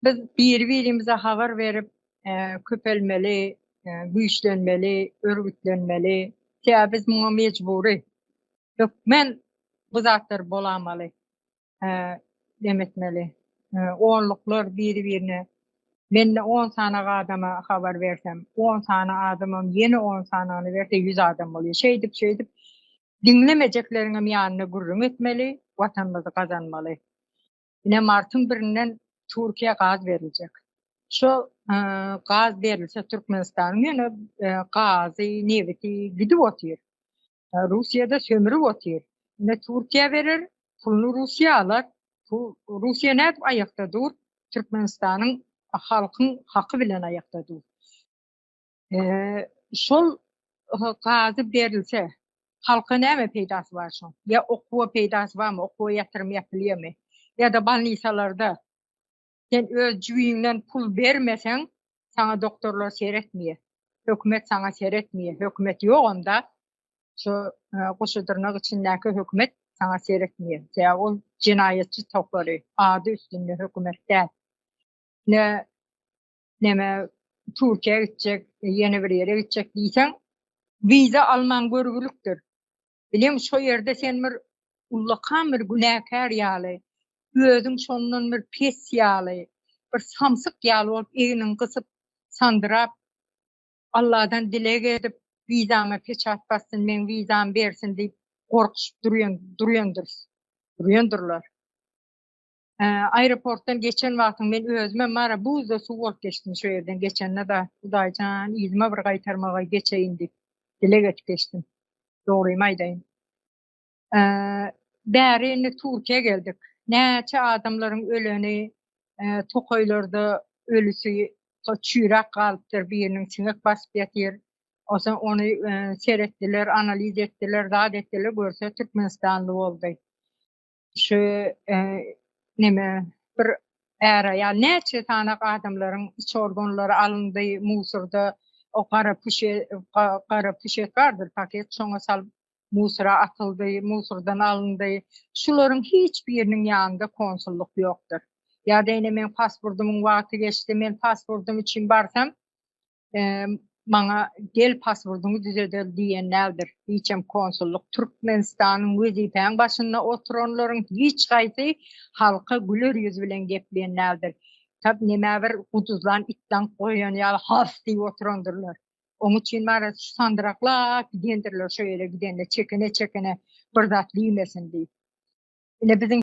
Biz biri-birimize habar berip, köpelmeli, güýçlenmeli, örgütlenmeli. Sebäbi biz muňa mejbury. Hökmen bu zatlar bolamaly. Dem etmeli. Onluklar biri-birine Mende on sanak adama habar bersem, on sany adamam ýene on sanagyny berse ýüz adam bolýar. Şeýdip-şeýdip diňlemejekleriňem ýanyna gürrüň etmeli, Watanymyzy gazanmaly. Ine martyň birinden Türkiýä gaz beriljek. Şu e, gaz berilse Türkmenistanyň ýöne e, gazy, nebiti gidip otyr. E, Russiýada sömürip otyr. Ine Türkiýä berer, puluny Russiýa alar. Bu Russiýa nädip aýakda dur? Türkmenistanyň halkyň haky bilen aýakda dur. Şol gazy berilse, halka näme peýdasy bar şoň? Ýa okuwa peýdasy barmy, okuwa ýatyrym ýapylýarmy? Ýa-da bolnisalarda sen öz jübiňden pul bermeseň, saňa doktorlar seretmeýär, hökümet saňa seretmeýär, hökümet ýok onda, şu goşadyrnak içindäki hökümet saňa seretmeýär, sebäbi ol jenaýatçy topary, ady üstünde hökümet däl. Ine, neme Türkiýä gitjek, ýene bir ýere gitjek diýseň, wiza alman görgülikdir. Bileň şo ýerde sen bir ullakan bir günäkär ýaly, özüň şondan bir pes ýaly, bir samsyk ýaly bolup egniňi gysyp, sandyrap, Alladan dileg edip, wizaňa peçat bassyn, meň wizamy bersin diýip, gorkuşyp durýan, durýandyrs, durýandyrlar. aeroportdan geçen wagtyň men özüme mara buzda suw bolup geçdim şu ýerden geçende da Hudaýjan yzyma bir gaýtarmagy geçeýin diýip dileg edip geçdim. Dogrymy aýdaýyn. Bäri indi Türkiýä geldik. Näçe adamlaryň öleni, tokaýlarda ölüsi çüýräp galypdyr, biriniň siňek basyp ýatyr. Osa ony seretdiler, analiz etdiler, zat etdiler, görse türkmenistanly boldy. Şu neme bir äre ya näçe sana adamlaryň iç organlary alyndy musurda o gara puşe gara puşe gardyr paket şoňa sal musura atyldy musurdan alyndy şularyň hiç biriniň ýanynda konsullyk ýokdur ýa-da ine men pasportymyň wagty geçdi men pasportym üçin barsam maňa gel paswordyňy düzeder diýen däldir. Hiçem konsullyk Türkmenistanyň wezipäň başynda oturanlaryň hiç haýsy halka güler ýüz bilen gepleýän däldir. Tab nämä bir guduzlan it daňk goýan ýaly has diýip oturandyrlar. Oň üçin bara sandyraklap gidendirler şo ýere gidende çekene-çekene bir zat diýmesin diýip. Ine biziň